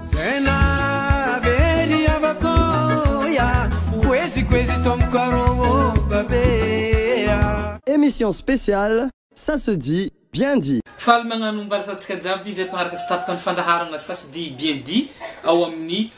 Zay nahavery havako ya Koezy koezy tompoko arô ô babe a. Emission spéciale ça se dit bien dit. Faly magnano ombary antsika jiaby izay mpanaraka tsy tapaka ny fandaharana Ça se dit bien dit ao amin'ny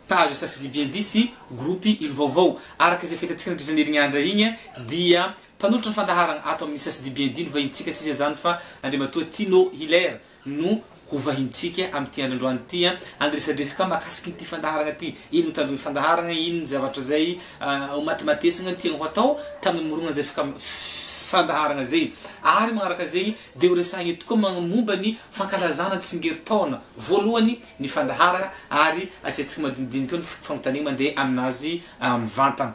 page Ça se dit bien dit sy groupe ilo vaovao. Araka izay fahitantsika nandritra ny herin'andra igny dia mpanolotra ny fandaharana ato amin'ny Ça se dit bien dit no vahintsika tsy iza izany fa Andriamatoa Tino Hilaire. no hovahintsika amin'ity andro androany ity an! Andresadresaka mahakasika ity fandaharana ity, ino no tanjon'ny fandaharana, ino ny zavatra izay homatimatesana ny tiany ho atao tamin'ny nimoronana izay fandaharana izay. Ary manaraka izay dia horesahina eto koa ny momba ny fankalazana ny tsingerintaona voalohany ny fandaharana ary asiantsika madinidinika eo ny fanontaniana mandeha aminazy mivantana.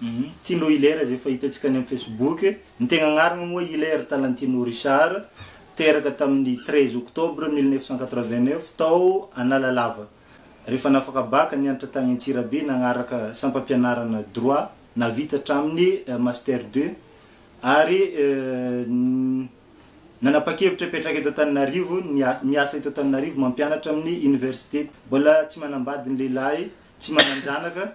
Humm Tino Hilaire izay efa hitantsika any amin'ny Facebook. Ny tegna agnarana moa Hilaire Talantino Richard, teraka tamin'ny treize octobre mille neuf cent quatre-vingt-neuf tao Analalava. Rehefa nafaka bac, nianatra tagny Antsirabe, nagnaraka sampam-pianarana droit, nahavita hatramin'ny master deux, ary nanapa-kevitra hipetraka eto Antananarivo, miasa eto Antananarivo, mampianatra amin'ny université. Mbola tsy manambady ny lehilahy, tsy manan-janaka.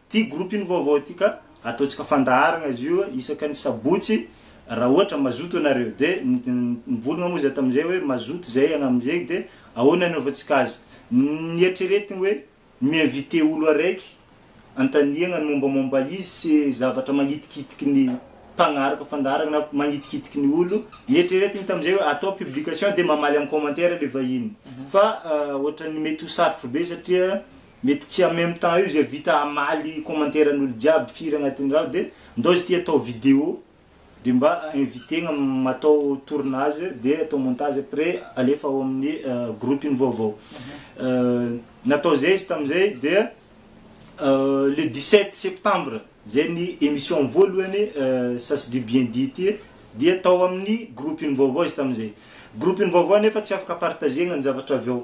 Ity groupe iny vaovao ity ka ataontsika fandaharana izy io isaka ny sabotsy raha ohatra mazoto ianareo de nivolagna moa zay tamin'izay hoe mazoto zay hagnamin'izegny de ahoana anaovantsika azy nieritreretigny hoe mi-inviter olo araiky antaniagna ny mombamomba izy sy zavatra magnitikitiky ny mpagnaraka fandaharana na magnitikitiky ny olo nieritreretigny tamin'izay hoe atao publication de mamaly am commentaire le vahiny fa ohatran'ny mety ho sarotro be satria Mety tsy en même temps eo izay vita hamaly commentaire n'olo jiaby firy agnatin'ny raha de ndao izy ty atao vidéo de mba inviter-gna matao tournage de atao montage après alefa ao amin'ny groupe-ny vaovao natao zay izy tamizay de le dix sept septembre zay ny emission voalohany ça se dit bien dit ty dia tao amin'ny groupe-ny vaovao izy tamizay groupe-ny vaovao nefa tsy afaka partager-gna ny zavatra avy ao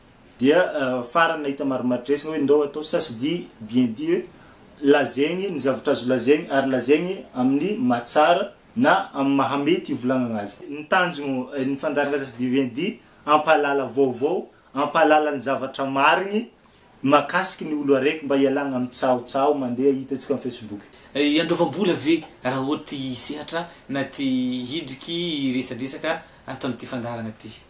Dia farany nahita marimaritresina hoe ndao atao ça se dit bien dit hoe lazaigny ny zavatra azo lazaigny ary lazaigny amin'ny maha tsara na amin'ny maha mety hivolagnagna azy. Ny tanjogno ny fandaharagna ça se dit bien dit hampahalala vaovao, hampahalala ny zavatra marigny mahakasiky ny olo araiky mba hialagna amin'ny tsahotsaho mandeha hitantsika amin'ny Facebook. Iandoavam-bola ve raha ohatra te hisehatra na te hidriky hiresadresaka ato amin'ity fandaharagna ity?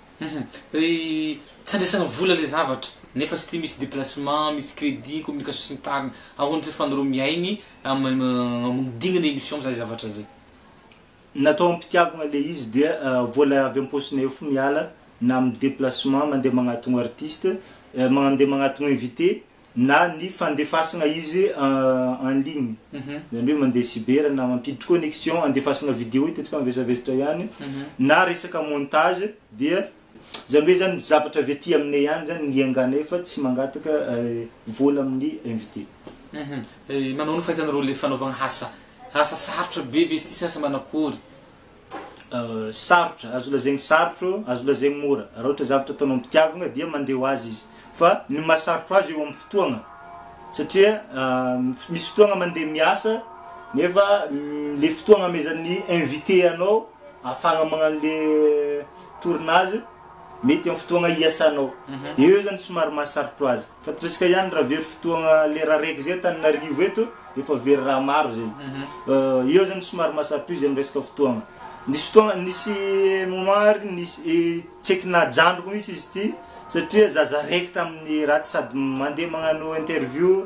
Humm ry tsy andraisana vola le zavatra nefa tsy tia misy déplacement, misy crédit, communication sy ny tariny ahoana tsy fandrao mihaigny amodignana émission mizaha zavatra zay. Natao ampitiavagna le izy dia vola avy amposinay ao fo miala na amin'ny déplacement mandeha magnatogno artiste, mandeha magnatogno invité, na ny fandefasana izy en ligne zany hoe mandeha cyber na mampiditry connexion andefasana video hitantsika mivesavesatra ihany na resaka montage dia zany hoe zany zavatra avy aty aminay ihany zany ny ianganay fa tsy mangataka vola amin'ny invité. Manao ny fahitanareo le fanaovana asa asa sarotra be ve izy ty sa asa manakory? sarotra, azo lazaigny sarotro, azo lazaigny mora, raha ohatra zavatra ataonao am-pitiavagna dia mandeha ho azy izy, fa ny maha sarotro azy eo amin'ny fotoagna, satria misy fotoagna mandeha miasa nefa le fotoagna amezan'ny invité anao ahafahagna magnano le tournage. Mety amin'ny fotoagna iasanao. Eo zany somary maha sarotro azy. Fa torisika ihany raha very fotoagna lera araiky zay Antananarivo eto efa very raha maro zay. Eo zany somary maha sarotro izy amin'ny resaka fotoagna. Nisy fotoagna nisy moment ary nisy tsy eky najanoky mihitsy izy ity satria zaza araiky tamin'ny raha ty sady mandeha magnano interview.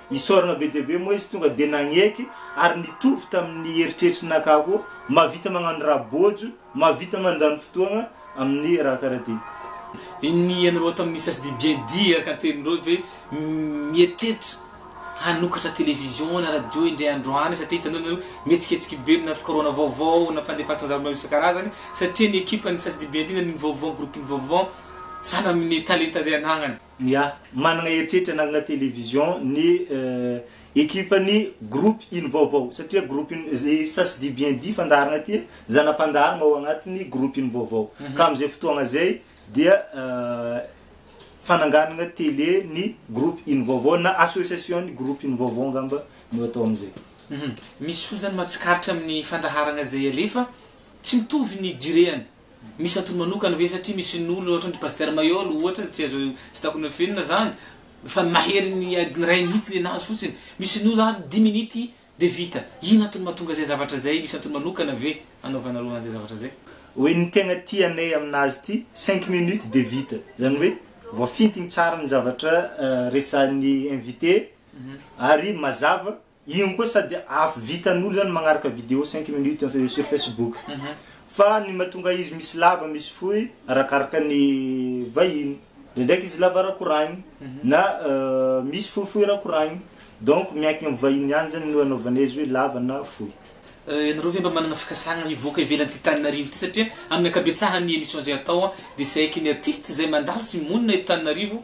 Isaorana be dia be moa izy tonga dia nagneky ary nitovy tamin'ny eritreritry naka koa, mahavita magnano raha bôjo, mahavita mandany fotoagna amin'ny raha karaha ty. Inn ianareo ato amin'ny sasdi bien dit araka ny teninareo ve mieritreritra hanokatra television na radio indray andro any satria hitanao ianareo mihetsiketsika be na fikarohana vaovao na fandefasana zava-maro isan-karazany satria ny ekipan'ny sasdi bien dit na ny vaovao groupe ny vaovao sahala amin'ny talenta izay anagnany. Ny ahy, managna eritreritra hanangana télévision ny ekipan'ny groupe iny vaovao satria groupe iny, ça se dit bien dit, fandaharana ty e, zana-pandaharana ao agnatin'ny groupe iny vaovao. Ka amin'izay fotoagna zay dia fananganagna télé ny groupe iny vaovao na association ny groupe iny vaovao angamba no atao amin'izay. Misy olona zany mahatsikaritra amin'ny fandaharagna izay alefa tsy mitovy ny durée-any. Misy antony manokana ve satria misy ny olona ohatran dry Pasteur Maheol ohatra tsy azo tsy tokony hofihinana zany fa ny mahery ny adiny iray mihitsy le nahazo fotsiny misy ny olona ary dimy minity de vita ino antony mahatonga zay zavatra zay misy antony manokana ve anaovanareo anzay zavatra zay. Oe ny tegna tianay aminazy ity cinq minutes de vita zany oe voafintigny tsara ny zavatra resahin'ny invité ary mazava Iny koa sady afo vitan'olo zany magnaraka video cinq minutes sur facebook fa ny mahatonga izy misy lava misy fohy arakaraka ny vahiny ndraindraiky izy lava rakoragny na misy fohifohy rakoragny donc miankigny am vahiny ihany zany no anaovana izy hoe lava na fohy. Ianareo ve mba manana fikasana hivoaka ivelany ty Taninarivo ty satria aminy ankabetsahan ny emission zay atao dia saiky ny artiste zay mandalo sy monina eto Taninarivo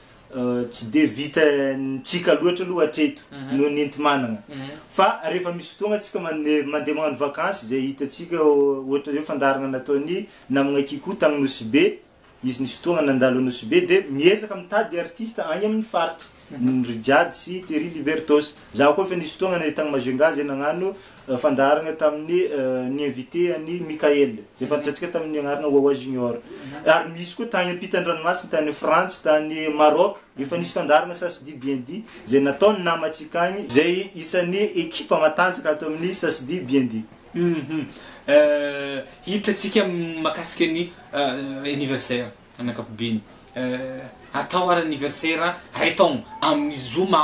Tsy dia vitantsika loatra aloha hatreto noho ny enti-manana. Fa rehefa misy fotoagna antsika mandeha magnano vakansy izay hitantsika ohatra hoe fandaharagna nataon'i namagna Kikou tagny Nosy Be, izy nisy fotoagna nandalo Nosy Be dia miezaka mitady artiste agny amin'ny faritry, ry Jady sy Terry Libertos. Zaho koa efa nisy fotoagna tagny Majunga zay nagnano fandaharana tamin'ny ny invité an'i Mickaël izay fantatrantsika tamin'ny anarana Wawa Junior ary misy koa tany ampitan-dranomasina tany Frantsa tany Maroc efa nisy fandaharana Sasidi Bien Dit izay nataon'ny namantsika agny izay isan'ny ekipa matanjaka ato amin'ny Sasidi Bien Dit. Hiditra antsika amin'ny makasika ny anniversaire amin'ny ankapobeny atao ary anniversaire iray taogno amin'ny zoma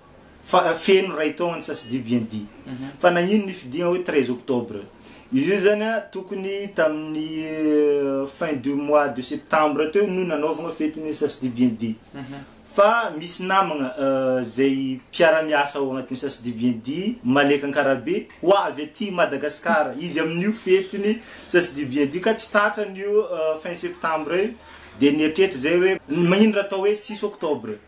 Fa feno iray taona ny sasidi bien dit. Fa nagnino nifidiagna hoe treize octobre? Izy io zany a tokony tamin'ny fin du mois de septembre teo no nanaovagna fety ny sasidi bien dit. Fa misy namagna zay mpiara-miasa ao agnatin'ny sasidi bien dit, Malek Ankarabe, ho avy aty Madagascar. Izy amin'io fety ny sasidi bien dit ka tsy tratran'io fin septembre io. Dia nieritreritra zay hoe magnino raha atao hoe six octobre?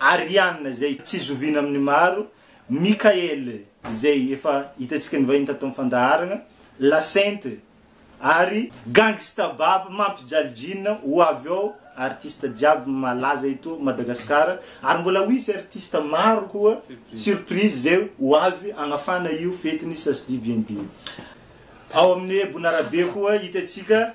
Ariane izay tsy zoviana amin'ny maro, Michael izay efa hitantsika nivahiny tato amin'ny fandaharagna, La Sainte ary Gangsta Bab mampijaly jean ho avy ao artiste jiaby malaza eto Madagasikara ary mbola ho hisy artiste maro koa surprise izay ho avy hagnafana io fetin'ny Sasdibiendia ao amin'ny Bonarabe koa hitantsika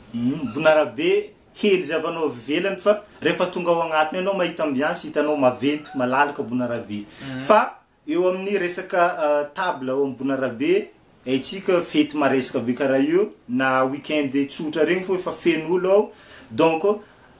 Mivonarabe hely zavanao avy ivelany fa rehefa tonga ao agnatiny anao mahita ambiance hitanao maventy malalaka bonarabe fa eo amin'ny resaka table ao amin'ny bonarabe haintsika fety maresaka be karaha io na week-end tsotra regny fô efa feno olo ao donc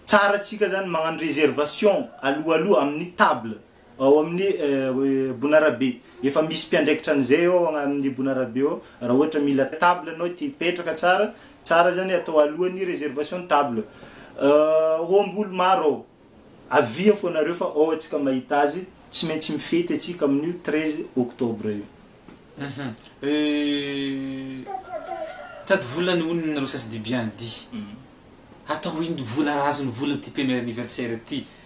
tsara tsika zany magnano reservation aloha aloha amin'ny table Ao amin'ny Bonarabe, efa misy mpiandraikitra an'izay ao amin'ny Bonarabe ao, raha ohatra mila table ianao tia hipetraka tsara, tsara zany hoe atao alohan'ny réservation ny table. Ombolo maro ao, avia fô nareo fa ao antsika mahita azy, tsy maintsy mifety antsika amin'io treize octobre io. Mitady vola ny olona nareo sasy di bien dit. Atao ino vola raha azon'ny vola ty premier anniversaire ty?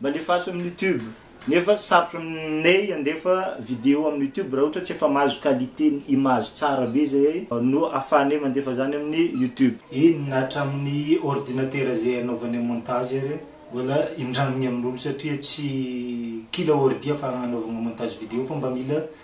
Mba lefaso amin'ny youtube. Nefa sarotra aminay handefa video amin'ny youtube raha ohatra tsy efa mahazo qualité ny image tsara be zay no afahanay mandefa zany amin'ny youtube. Eny na hatramin'ny ordinatera zay anaovanay montage ary mbola indramigny amin'olo satria tsy kila ordi afahagna anaovagna montage video fa mba mila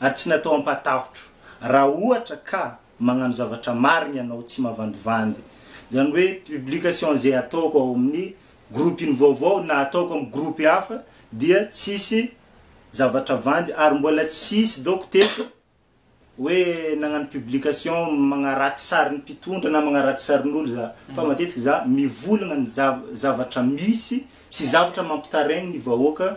ary tsy natao hampatahotro raha ohatra ka magnano zavatra marigny anao tsy mavandivandy zany hoe publication ze ataoko ao amin'ny groupe iny vaovao na ataoko amin'ny groupe hafa dia tsisy zavatra vandy ary mbola tsisy daoko teto hoe nagnano publication magnaratsy sarin'ny mpitondra na magnaratsy sarin'olo za fa matetiky za mivolagna ny zavatra misy sy zavatra mampitaraigny ny vahoaka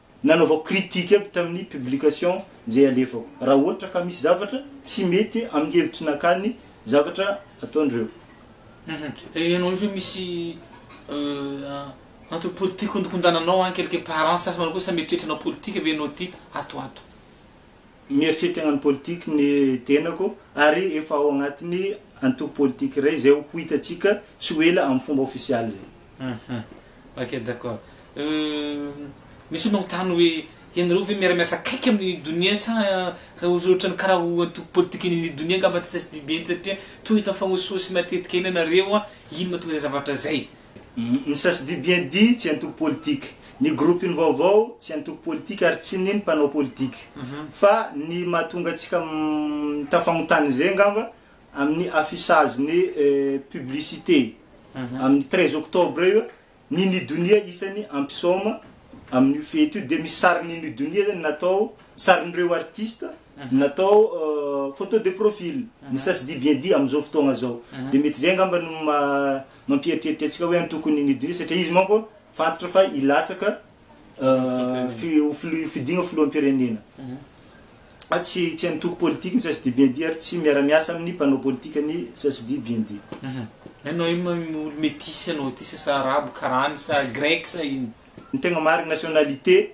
Nanaovako critique aby tamin'ny publication izay alefako raha ohatra ka misy zavatra tsy mety amin'ny hevitry naka ny zavatra ataon'ireo. Hum ianao io ve misy antony politique hondinkondananao hein quelque part hein sa manao akory sa mieritreritra hanao politique ve ianao ty ato ato. Mieritreritra hagnano politique ny tenako ary efa ao agnatin'ny antoko politique iray izay ho hitantsika tsy ho ela amin'ny fomba ofisialy izay. Uhum, ok d'accord. Misy olona mitany hoe ianareo ve miara-miasa akaiky amin'ny Donia sa ohatrany karaha ho antoko politiken'ny Donia angamba tsy CSDB intsy satria toa hita mifagnosihosy matetika eny ianareo, ino matoa izay zavatra izay? Ny sasdi bien dit tsy antoko politika, ny gropin vaovao tsy antoko politika ary tsy ny ny mpanao politika. Fa ny mahatonga antsika mitafagnotany izay angamba amin ny affichage ny publicité amin ny treize octobre io, ny ny donia isany ampisaoma amin io fety io dia misy sarin ny ny donia zany natao sarin ireo artista natao photo de profil ny sasdi bien dit amin izao fotoagna izao. Dia mety izay angamba no maha Mampieritreritra antsika hoe antoko ny Nidina satria izy manko fantatra fa hilatsaka ho fidiana ho filoham-pirenena. Fa tsy tsy antoko politika ny CSD-BND ary tsy miara-miasa amin'ny mpanao politika ny CSD-BND. Ianao io olo metisy anao ity sasa arabo karany sa grec sa ino? Ny tegna marigny nationalité.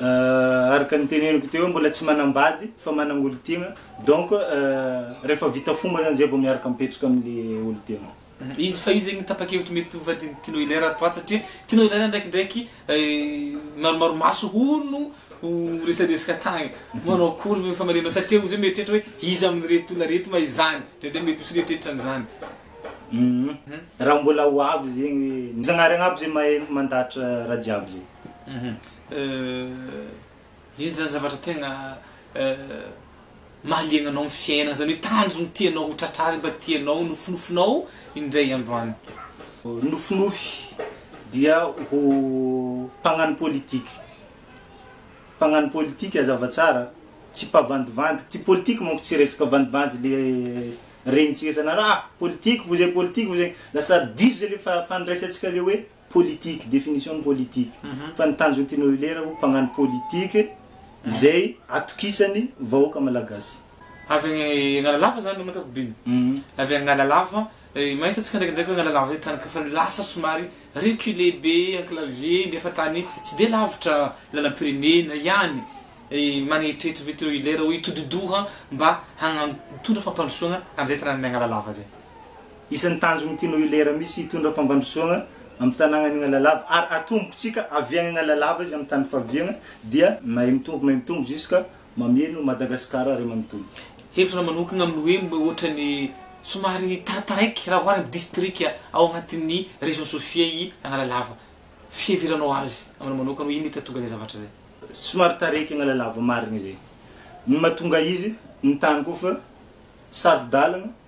Araka ny teneniko teo mbola tsy manambady fa managna olon-tegna donc rehefa vita fomba zany zay vao miaraka mipetraka amle olon-tegna. Izy fa io zegny tapa-kevitry mety ho vadin'i Tino Hilaire ato ato satria Tino Hilaire ndraikindraiky maromaro maso hono ho resadresaka tagny manao akory ve famaliana satria ozy hoe mieritreritra hoe iza amin'ireto olona reto ma izany ndraindray mety misy mieritreritra an'izany. Raha mbola ho avy zegny hoe ny Zagnahary agnabo zay mahay mandahatra raha jiaby zay. Eny zany zavatra tegna mahaliagna anao amin'ny fiainagna zany hoe tanjogno tianao ho tratrary mba tianao nofinofinao indray andro any. Nofinofy dia ho mpagnano politique, mpagnano politique azava tsara tsy mpavandivandy, ty politique manko tsy resaka vandivandy le regnintsika isan'andro ah politique vao zay politique vao zay, lasa diso zay le fandraisantsika le hoe. Politique, définition ny politique. Fa ny tanjon'i Tino Hilera ho mpagnano politique izay atokisany vahoaka malagasy. Avy any Analalava zany amin'ny ankapobeny? Avy any Analalava, mahita antsika ndraikindraiky hoe Analalava zay tany efa lasa somary reculé be enclavé dia efa tany tsy dia lavitra lalam-pirenena ihany, manetritry ve Tino Hilera ho hitodi-doha mba hagnano, hitondra fampandrosoana an'izay tanànan'i Analalava zay? Isan'ny tanjon'ny Tino Ilera Misy hitondra fampandrosoagna amin'ny tanàgna any Analalava ary atombokontsika avy any Analalava izy amin'ny tany faviagna dia mahay mitombo mahay mitombo jusqu'à mameno Madagascar ray manontolo. Hevitra manokagna amin'ny hoe mba ohatran'ny somary tarataraiky raha ohary amin'ny distrika ao agnatin'ny région Sofia i Analalava. Fiheveranao azy aminao manokana hoe ino mety hahatonga izay zavatra izay? Somary taraiky Analalava marigny zay. Ny mahatonga izy, ny tany koa fa saro-dalagna.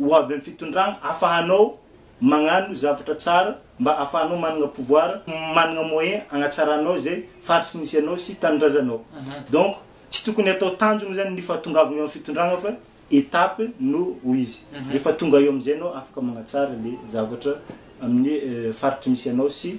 Ho avy amin'ny fitondrana afahanao magnano zavatra tsara mba afahanao managna pouvoir, managna moyen agnatsaranao izay faritry misy anao sy tanindrazanao. Donc tsy tokony atao tanjona zany ny fahatongavagna eo amin'ny fitondrana fa étape no ho izy. Rehefa tonga eo amin'izay anao afaka magnatsara le zavatra amin'ny faritry misy anao sy.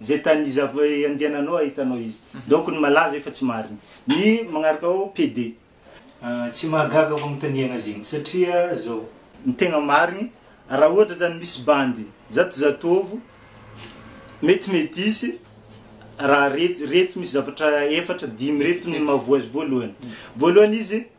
Zay tany iza andehananao ahitanao izy. Donc ny malaza efa tsy marina. Ny magnaraka ao PD. Tsy mahagaga fagnotaniagna azy igny satria zao. Ny tegna marigny, raha ohatra zany misy bandy zatozatovo, mety mety hisy raha reto, reto misy zavatra efatra dimy reto ny mahavoa azy voalohany. Voalohany izy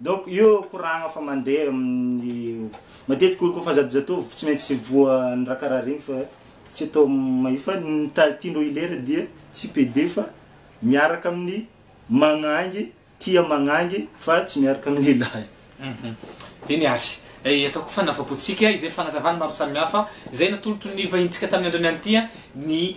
Donc io koragna fa mandeha amin'ny matetika olo kofa zato zatovo tsy maintsy voan'ny raha karaha regny fa tsy atao mahi fa ny ta tian'reo hilera dia tsy pede fa miaraka amin'ny magnangy tia magnangy fa tsy miaraka amin'ny lehilahy. Eny azy. Eh, atao koa fanapapotsika izay fanazavana maro samihafa izay natolotry ny vahintsika tamin'ny andrany an'ity an, ny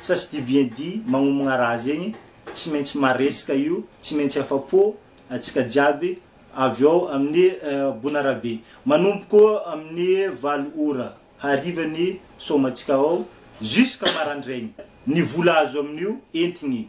Ça se dit bien dit, magnomagna raha zegny, tsy maintsy maresaka io, tsy maintsy afa-po antsika jiaby, avy ao amin'ny Bonarabe. Manomboko amin'ny valo ora hariva ny soamantsika ao, jusqu'à marandraigny. Ny vola azo amin'io, entigny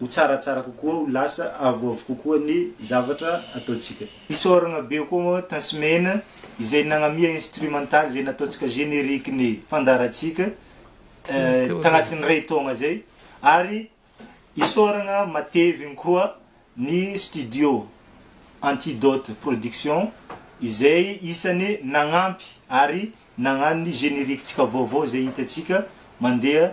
Ho tsaratsara kokoa, ho lasa avoavo kokoa ny zavatra ataontsika. Isaoragna be koa moa Tasman izay nagnamia instrumental izay nataontsika générique ny fandaharantsika tagnatin'ny iray taogna izay ary isaoragna matevigny koa ny studio Antidote Production izay isany nagnampy ary nagnano ny générique-tsika vaovao izay hitantsika mandeha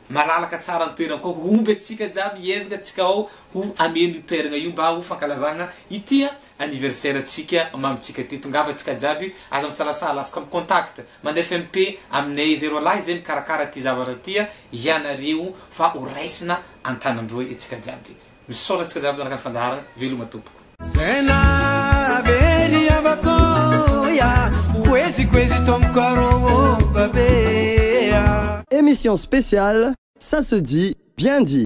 Malalaka tsara ny toerana koa homby antsika jiaby hiezaka antsika ao ho hameno io toerana io mba ho fankalazana ity anniversaire antsika mamintsika ity tongava antsika jiaby aza misalasala afaka mi contact mande fmp aminay zay roalahy zay mikarakara ity zavatra ity ianareo fa ho raisina antanandroy antsika jiaby Misaotra antsika jiaby niaraka ny fandaharana, veloma tompoko. Zay nahavery havako ya Koezy koezy tompoko arô ô babe ya. Emission spéciale, ça se dit, bien dit.